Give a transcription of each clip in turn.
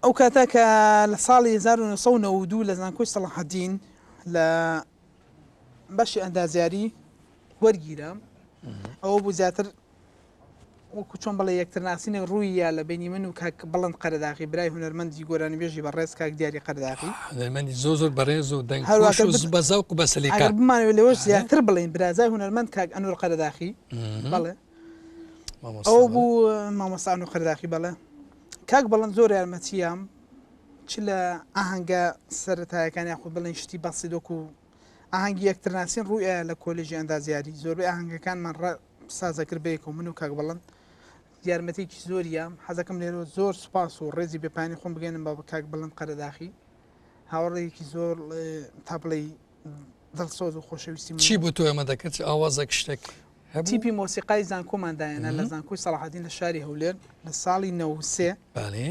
ئەو کاتە کە لە ساڵی هەزار و نۆ سەد و نەوەد و دوو لە زانکۆی سەڵاحەدین لە بەشی ئەندازیاری وەرگیرا ئەوە بوو زیاتر وەکو چۆن بڵێ یەکترناسینە ڕوویە لە بینی من و کاک بڵند قەرداغی برای هونەرمەندی گۆرانی بێژی بە ڕێز کاک دیاری قەرداغی هونەرمەندی زۆ زۆر بەڕێز و دەنگ بە زەوق بەسەلیکار بمانەوە لەوەش زیاتر بڵین برازای هونەرمەند کاک ئەنور قەرداخی بڵێ ئەو بوو مامەسان و قەرداخی بەڵێ کاک بەڵند زۆر یارمەتیام چ لە ئاهنگە سەرەتایەکان یاخود بڵێن شتی بەسی دۆک و ئاهنگی یەکترناسین ڕوویە لە کۆلژی ئەندازیاری زۆربەی ئاهنگەکانمان ڕ سازەکرد بەیەک و من و کاک بەڵند یارمەتێکی زۆریە حەزەکەم لێرە زۆر سوپاس و ڕێزی بەپانی خۆم بگەێنم بە کاک بڵند قەرەداخی هاوڕێکی زۆر تا بڵێ دڵسۆز و خۆشەویستی چی بۆ تۆ ئەمە دەکرد ئاوازە شتێک هەبوو. تیپی مۆسیقای زانکۆمان داهێنا لە زانکۆی سەڵاحەدین لە شاری هەولێر لە ساڵی نەوەد و سێ. بەڵێ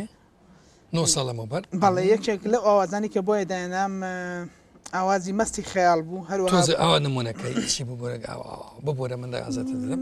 نۆ ساڵ لەمەوبەر. بەڵێ یەکێک لەو ئاوازانەی کە بۆیە داهێنام ئاوازی مەستی خەیاڵ بوو هەروەها تۆزێ ئاوا نموونەکەی چی بوو گۆرەگا ئاوا ببوورە من دەگازێتە دەدەم.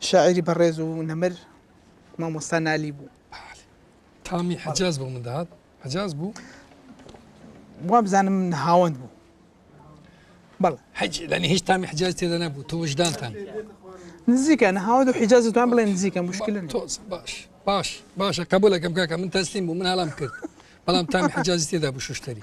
شاعیری بەڕێز و نەمر مامۆستا نالی بوو. بەالە تامی حەجاز بۆ من دەهات حەجاز بوو؟ وابزانم هاوەند بوو. بەڵ حەج لەنی هیچ تامی حجاز تێدا نەبوو تۆ وژدانتان نزیکە نەهاوە و حیجاز توان بڵێ نزیکە مشکلن تۆز باش باش باشە قبولەکەم کاکە من تەسلیم بوو من هەڵام کرد بەڵام تامی حجازی تێدا بوو شوشتری